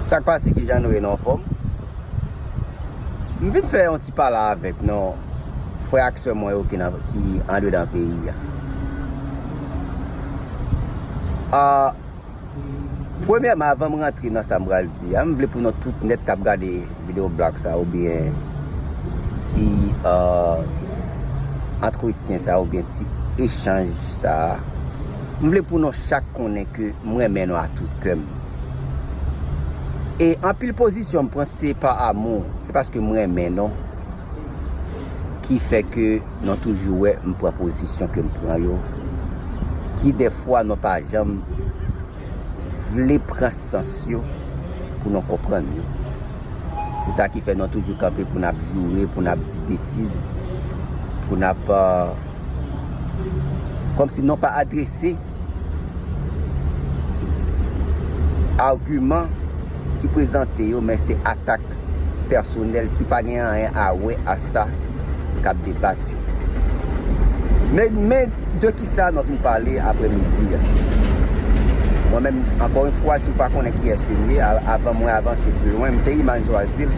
Sak pase kijan nou ye nou anfom? M vin fè yon ti pale avek nou frè ak sè mwen yo ki andedan peyi a Ahh Premyèman avan m rantre nan sa m pral di a m vle pou nou tout nèt kap gade video blog sa oubyen ti ahh antretyen sa oubyen ti echanj sa m vle pou nou chak konnen ke m renmen nou a tout kè m. E anpil pozisyon m pran se pa amou, se paske m renmen non ki fè ke nou toujou wè m pran pozisyon ke m pran yo ki defwa nou pa janm vle pran sans yo pou nou konprann yo. Se sa ki fè nou toujou kanpe pou n ap joure, pou n ap di betiz, pou n ap kòm si nou pa adrese. Argument ki prezante yo men se atak pèsonèl ki pa gen anyen a wè a sa kap debat yo. Men de ki sa nou vin pale aprè midi a. Mwen menm ankò yon fwa si w pa konnen kiyès ke m ye avan mwen avanse pi lwen m se Iman Joazile.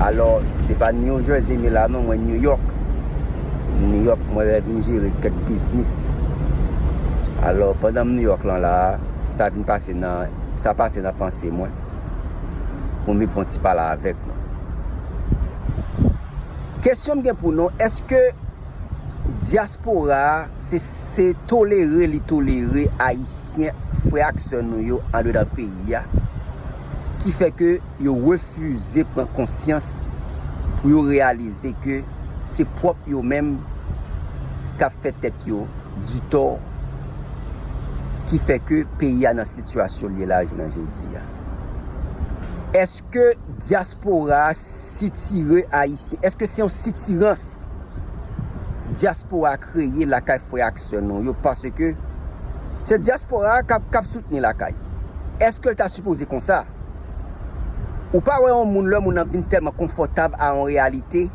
Alò se pa New Jersey m ye la non mwen New York. New York mwen rèv vin jere kèk biznis alò pandan m New York lan la sa vin pase nan sa pase nan panse mwen pou m vin fè yon ti pale avèk nou kesyon m gen pou nou èske dyaspora se tolere li tolere ayisyen frè ak sè nou yo andedan peyi a ki fè ke yo refize pran konsyans pou yo reyalize ke. se pwòp yo menm k ap fè tèt yo ditò ki fè ke peyi a nan sitiyasyon l ye la a jounen jodi a. Èske dyaspora a sitire Ayisyen? Èske se yon sitirans dyaspora a kreye lakay frè ak sè nou yo? Paske se dyaspora a k ap soutni lakay. Èske l ta sipoze konsa? Ou pa wè yon moun lè yon moun nan vin tèlman konfòtab a yon reyalite,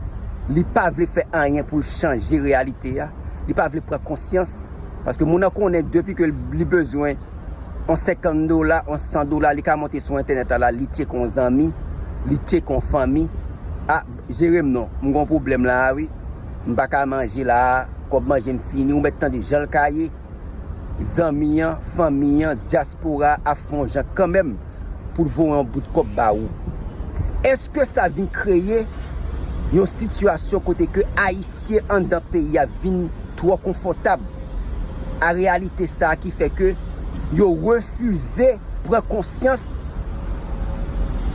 li pa vle fè anyen pou l chanje reyalite a, li pa vle pran konsyans, paske moun nan konnen depi ke li bezwen yon 50 dola, yon 100 dola, li ka monte sou entènèt la la, li tcheke yon zanmi, li tcheke yon fanmi, a, jere m non, m gen yon pwoblèm la a wi, m pa ka manje la a, kòb manje m fini, ou mèt tande jan l ka ye. Zanmi an, fanmi an, dyaspora a ap fè yon jan kanmenm pou l voye yon bout kòb ba ou. Èske sa vin kreye yon sitiyasyon kote ke Ayisyen anndan peyi a vin twò konfòtab a reyalite sa a ki fè ke yo refize pran konsyans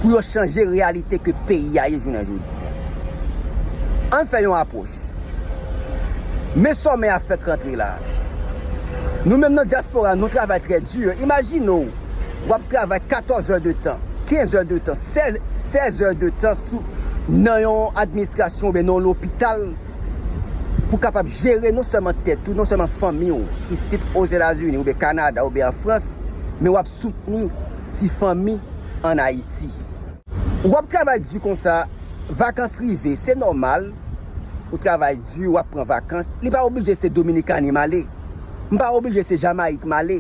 pou yo chanje reyalite ke peyi a ye jounen jodi a? An n fè yon apwòch. Pòtoprens. Men sòmè a fèk rantre la. Nou menm nan dyaspora nou travay trè di. Imajine w w ap travay 14 è de tan, 15 è de tan, 16 è de tan nan yon administrasyon oubyen nan yon lopital pou kapab jere non sèlman tèt ou, non sèlman fanmi w isit Ozetazini oubyen Kanada oubyen an Frans, men w ap soutni ti fanmi an Ayiti. Wap travay du konsa vakans rive se nòmal ou travay du wap pran vakans li pa oblije se dominikani male m pa oblije se jamayik male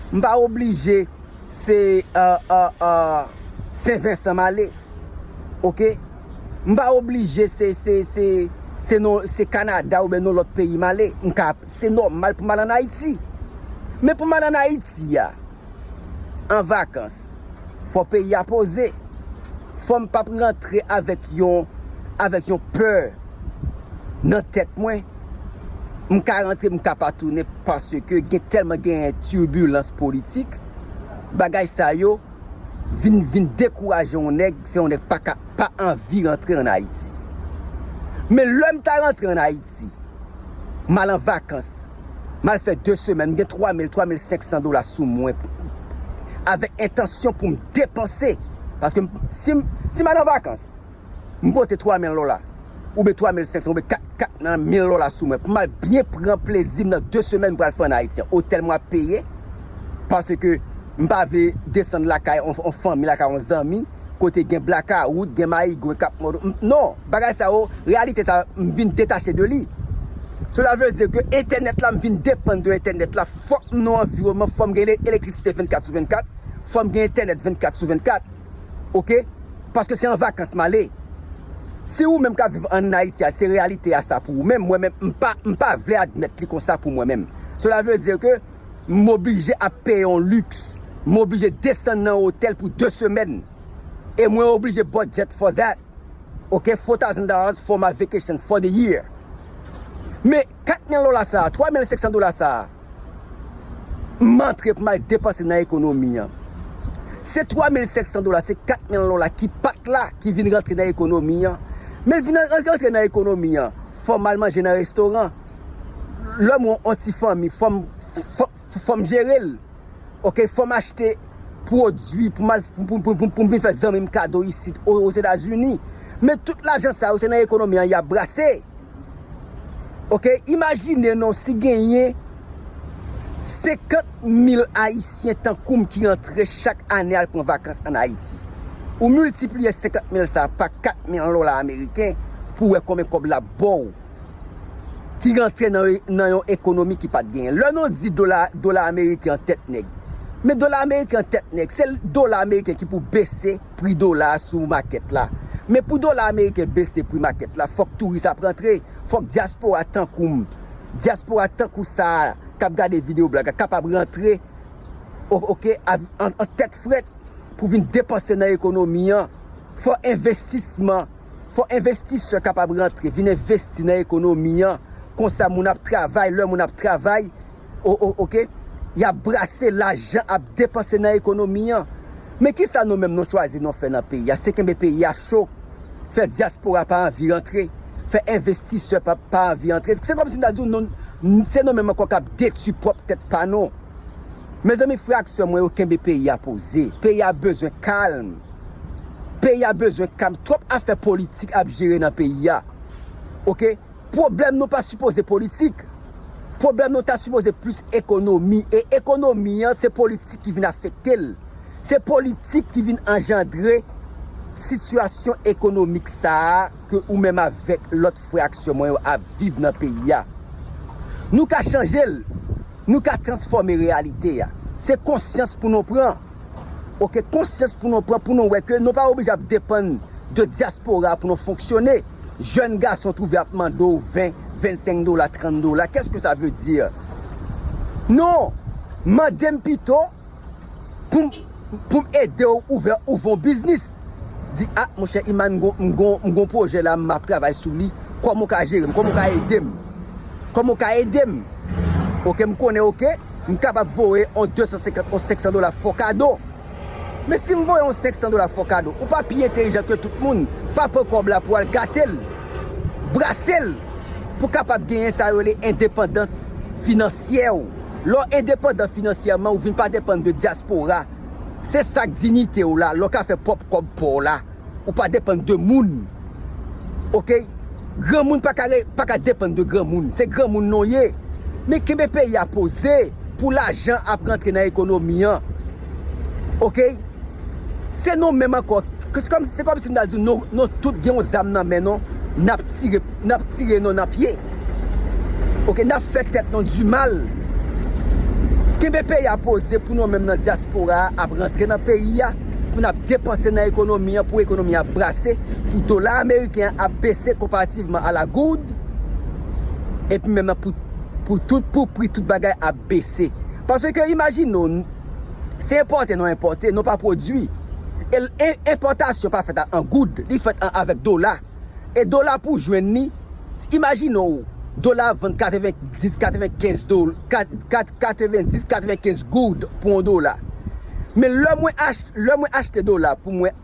m pa oblije se sen vensan male ok m pa oblije se kanada oubyen yon lòt peyi male m ka se nòmal pou mal an ayiti men pou mal an ayiti a an vakans fò peyi a poze fòm pap rantre avèk yon avèk yon pè nan tèt mwen m ka rantre m ka pa tounen paske gen tèlman genyen turbilans politik bagay sa yo vin vin dekouraje yon nèg fè yon nèg paka pa anvi rantre an ayiti men lèm ta rantre an ayiti. Ayiti. M al an vakans. M al fè 2 semèn. M gen 3 mil, 3 mil 500 dola sou mwen pou avèk entansyon pou m depanse. Paske m si m si m al an vakans, m pote 3 mil dola oubyen 3 mil 500 oubyen 4 4 nan mil dola sou mwen pou m al byen pran plezi m nan 2 semèn m pral fè an Ayiti an. Otèl mwen ap peye paske m pa vle desann lakay on fanmi, lakay on zanmi. kote gen blaka wout, gen mayigwen kap mòd ou, non, bagay sa yo, reyalite sa m vin detache de li. Cela veut dire que entènèt la m vin depann de entènèt la, fòk m nan anviwonman, fò m gen elektrisite 24 sou 24, fò m gen entènèt 24 sou 24 ok, paske se an vakans m ale. Si ou menm kap viv an Ayiti a se reyalite a sa pou ou menm, mwen menm m pa m pa vle admèt li konsa pou mwen menm. Cela veut dire que. M oblije ap peye yon lux, m oblije desann nan yon hotel pou 2 semèn e mwen oblije budget for that ok four thousand dollars for my vacation for the year men 4 mil dola sa a, 3 mil 500 dola sa a m antre pou m al depanse nan ekonomi an se 3 mil 500 dola se 4 mil dola ki pat la ki vin rantre nan ekonomi an men l vin rantre nan ekonomi an fò m al manje nan restoran. lè mwen yon ti fanmi fòm fòm jerel ok fòm achte pwodwi pou mal poum vin fè zanmim kado isit ozetazini men tout lajan sa yo se nan ekonomi an yap brase ok imajine non si genyen 50 mil ayisyen tankoum ki antre chak ane al pran vakans an ayiti ou miltipliye 50 mil sa pa 4 mil dola ameriken pou wè konbyen kòb lap baw. ki rantre nan yon ekonomi ki pat genyen. Lè nou di dola, dola ameriken an tèt nèg. Men dola ameriken an tèt nèg, se dola ameriken ki pou bese pri dola a sou makèt la. Men pou dola ameriken bese pri makèt la, fòk touris ap rantre, fòk dyaspora tankou m, dyaspora tankou sa a k ap gade videyo blag la kapab rantre ok an tèt frèt pou vin depanse nan ekonomi an. Fò envestisman. Fò envestisè kapab rantre vin envesti nan ekonomi an konsa moun ap travay lè moun ap travay ok yap brase lajan ap depanse nan ekonomi an men kisa nou menm nou chwazi nou fè nan peyi a se kenbe peyi a cho fè dyaspora pa anvi rantre fè envestisè pa anvi antre se kòmsi m ta di w se nou menm ankò kap detui pwòp tèt pa nou mezanmi frè ak sè mwen yo kenbe peyi a poze peyi a bezwen kalm. Peyi a bezwen kalm twòp afè politik ap jere nan peyi a ok pwoblèm nou pa sipoze politik pwoblèm nou ta sipoze plis ekonomi e ekonomi an se politik ki vin afekte l se politik ki vin anjandre sitiyasyon ekonomik sa a ke ou menm avèk lòt frè ak sè mwen yo ap viv nan peyi a nou ka chanje l nou ka transfòme reyalite a se konsyans pou nou pran. Ok konsyans pou nou pran pou nou wè ke nou pa oblije ap depann de dyaspora pou nou fonksyone. Jèn gason twouve ap mande w 20, 25 dola, 30 dola, kès ke sa ve di? Non! Mande m pito pou m ede w ouvè ouvè yon biznis. Di ah monchè Iman m gon m gon m gon projè la map travay sou li kòman ou ka jerem kòman ou ka edem kòman ou ka edem ok m konnen ok m kapab voye on 250 on 500 dola fò kado men si m voye on 500 dola fò kado ou pa pi entelijan ke tout moun pa pran kòb la pou al gatel brasel pou kapab genyen sa yo rele endepandans finansyè ou lè w endepandan finansyèman ou vin pa depann de dyaspora. Se sak dinite w la lè w ka fè pwòp kòb pa w la ou pa depann de moun ok granmoun paka paka depann de granmoun se granmoun non ye men kenbe peyi a poze pou lajan ap rantre nan ekonomi an ok se nou menm ankò se kòmsi m ta di w nou tout gen yon zam nan men nou nap tire. Nap tire nou nan pye. Ok nap fè tèt nou du mal. Kenbe peyi a poze pou nou menm nan diaspora a ap rantre nan peyi a pou nap depanse nan ekonomi an pou ekonomi a brase pou dola ameriken an ap bese konparativman a la goud epi menm nan pou pou tout pou pri tout bagay ap bese pase ke imajine w se enpòte nou enpòte nou pa pwodui e enpòtasyon pa fèt an goud li fèt an avèk dola. E dola pou jwenn li, imajine w dola ap vann 90, 95 do, 90, 95 goud pou yon dola. Men lè mwen achte, lè mwen achte dola pou mwen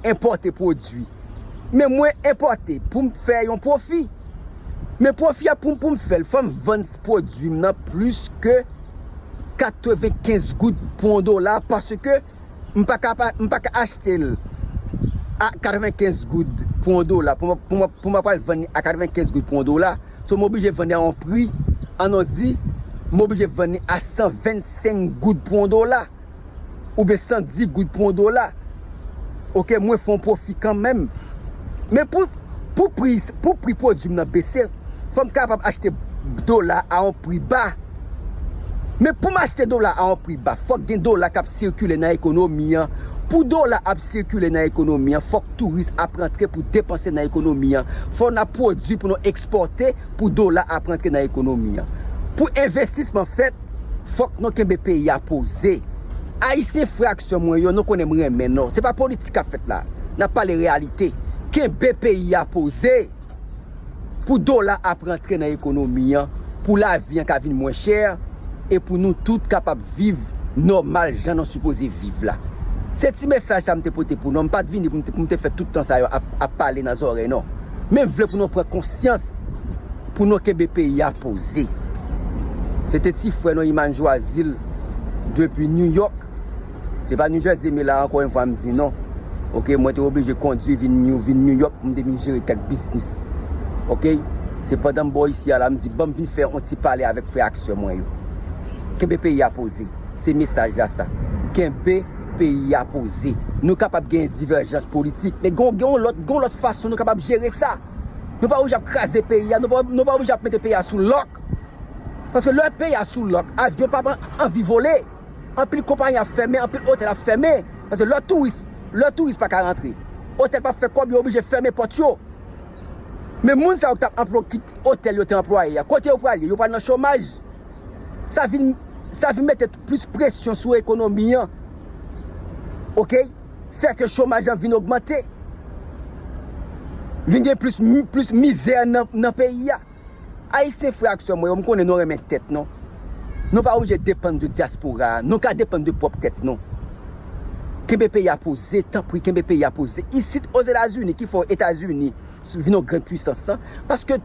enpòte pwodui, men mwen enpòte pou m fè yon pwofi. Men pwofi a pou m fè l, fò m vann pwodui m nan plis ke 95 goud pou yon dola paske. M pa ka pa m pa ka achte l a 95 goud pou yon dola pou mwen pou mwen pou mwen pral vann li a 95 goud pou yon dola so m oblije vann li a yon pri an nou di m oblije vann li a 125 goud pou yon dola oubyen 110 goud pou yon dola ok mwen fon pwofi kanmèm men pou pou pri pou pri pwodwi m nan bese fò m kapab achte dola a yon pri ba. Men pou m achte dola a on pri ba, fòk gen dola k ap sikile nan ekonomi an. Pou dola ap sikile nan ekonomi an, fòk touris ap rantre pou depanse nan ekonomi an. Fò n ap pwodui pou nou ekspòte pou dola ap rantre nan ekonomi an. Pou envestisman fèt, fòk nou kenbe peyi a poze. Ayisyen fraksyon mwen yo, nou konnen m renmen nou. Se pa politik k ap fèt la. N ap pale reyalite. Kenbe peyi a poze. Pou dola ap rantre nan ekonomi an, pou lavi an ka vin mwen chè, e pou nou tout kapab viv nòmal jan nou sipoze viv la. Se ti mesaj sa m te pote pou nou an, m pat vini pou m te fè tout tan sa yo ap pale nan zòrèy non. Men m vle pou nou pran konsyans, pou nou kenbe peyi a poze. Se te ti frè nou Iman Jwazil depi New York. Se pa New Jersey me la anko yon fwa m di non. Ok mwen te oblije kondwi vin New York pou m te vin jere kèk biznis. Ok se pandan m bò isi a la m di banm vin fè yon ti pale avèk frè ak sè mwen yo. Kenbe peyi a poze. Se mesaj la sa. Kenbe peyi a poze. Nou kapab gen divèjans politik men gen yon lòt gen yon lòt fason nou kapab jere sa. Nou pa oblije ap kraze peyi a, nou pa oblije ap mete peyi a sou lòk. Paske lè peyi a sou lòk avyon pap anvi vole. Anpil konpayi ap fèmen, anpil otèl ap fèmen, paske lè touris, lè touris pa ka rantre, otèl pa fè kòb yo oblije fèmen pòt yo. Men moun sa yo ki tap anplw ki otèl yo te anplwaye a, kote yo pral ye? Yo pral nan chomaj. Sa vin, sa vin mete plis presyon sou ekonomi an. Ok, fè ke chomaj lan vin ogmante. Vin gen plis, plis mizè nan peyi a. Ayisyen frè ak sè mwen yo, m konnen nou renmen tèt nou. Nou pa oblije depann de dyaspora a, nou ka depann de pwòp tèt nou. Kenbe peyi a poze, tanpri kenbe peyi a poze. Isit Ozetazini ki fè w Etazini vin yon grand pwisans lan, paske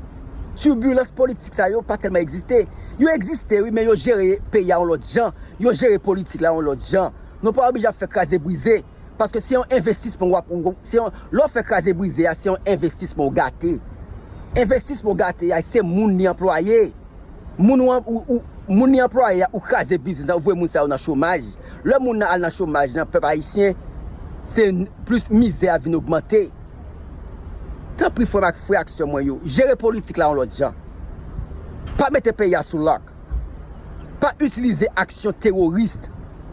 tibilans politik sa yo pa tèlman egziste. Yo egziste wi men yo jere peyi a yon lòt jan, yo jere politik la yon lòt jan. Nou pa oblije ap fè kraze brize. Paske se yon envestisman w ap, se yon, lè w fè kraze brize a, se yon envestisman w gate. Envestisman w gate a, se moun li anplwaye. Moun ou, ou, moun li anplwaye a, ou kraze biznis la, ou voye moun sa yo nan chomaj. Lè moun nan al nan chomaj nan, pèp ayisyen, se plis mizè a vin ogmante. Tanpri frè m ak frè ak sè mwen yo, jere politik la yon lòt jan. Pa mete peyi a sou lòk. Pa itilize aksyon teworis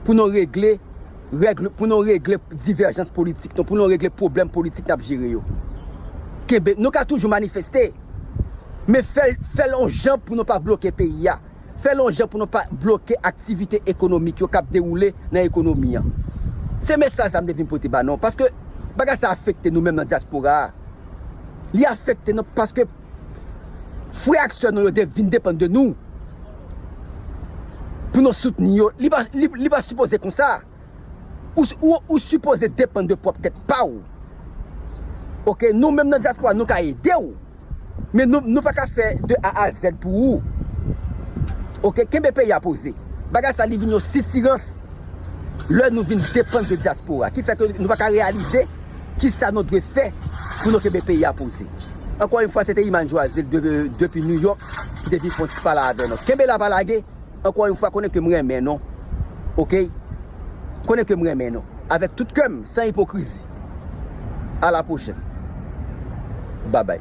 pou nou regle. Règle pou nou regle divèjans politik nou, pou nou regle pwoblèm politik n ap jere yo. Kenbe, nou ka toujou manifeste, men fè l, fè l yon jan pou nou pa bloke peyi a, fè l yon jan pou nou pa bloke aktivite ekonomik yo k ap dewoule nan ekonomi an. Se mesaj sa m te vin pote ba nou, paske bagay sa afekte nou menm nan dyaspora a. Li afekte nou paske Frè ak sè nou yo te vin depann de nou pou nou soutni yo, li pa sipoze konsa. Ou sipoze depann de pwòp tèt pa ou. Ok, nou menm nan dyaspora nou ka ede ou, men nou pa ka fè de A a Zèd pou ou. Ok, kenbe peyi a poze. Bagay sa li vin yon sitirans lè nou vin depann de dyaspora ki fè ke nou pa ka reyalize. kisa nou dwe fè pou nou kenbe peyi a poze. Ankò yn fwa se te Imane Joazile depi New York ki te vin fè yon ti pale avè nou. Kenbe la pa lage, ankò yn fwa konnen ke m renmen nou ok, konnen ke m renmen nou avèk tout kè m san ipokrizi. A la pwochèn. Babay.